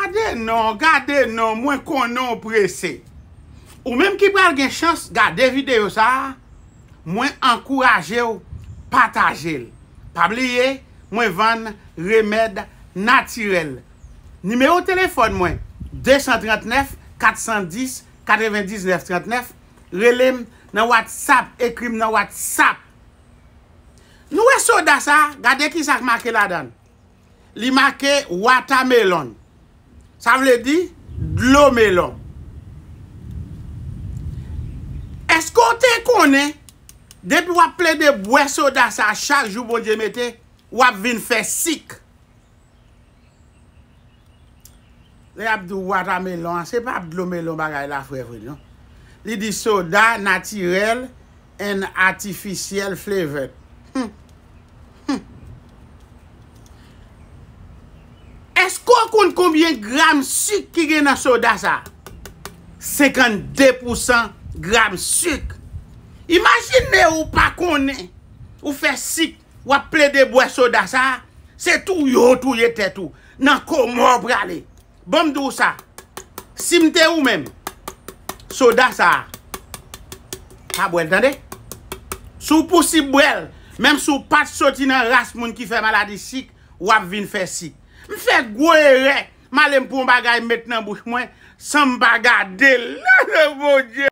Gade non, gade non, mwen konnen w prese. Ou menm ki pral gen chans gade videyo sa, mwen ankouraje w pataje l. Pa bliye mwen vann remèd natirèl. Nimewo telefòn mwen 239 410 99 39, rele m nan whatsapp, ekri m nan whatsapp. Nou wè soda sa, gade kisa k make ladan l. Li make watermelon. Sa vle di dlo melon. Eske w te konnen depi w ap plede bwè soda sa chak jou Bondye mete, w ap vin fè sik? Lè yap di w watamelon an se pa dlo melon bagay la fre vre non. Li di soda natirèl and artificial flavored. Humm humm. Eske w konn konbyen gram suk ki gen nan soda sa? 52 pousan gram suk. Imajine ou pa konnen ou fè sik wap plede bwè soda sa se touye w touye tèt ou. Nan komò w prale. Ban m di w sa, si m te ou menm, soda sa a, pa bwè l tande. Si w pousib bwè l, menm si w pa t soti nan ras moun ki fè maladi sik, w ap vin fè sik. M fè gwo erè, m ale m pran yon bagay m met nan bouch mwen san m pa gade l. Bondye!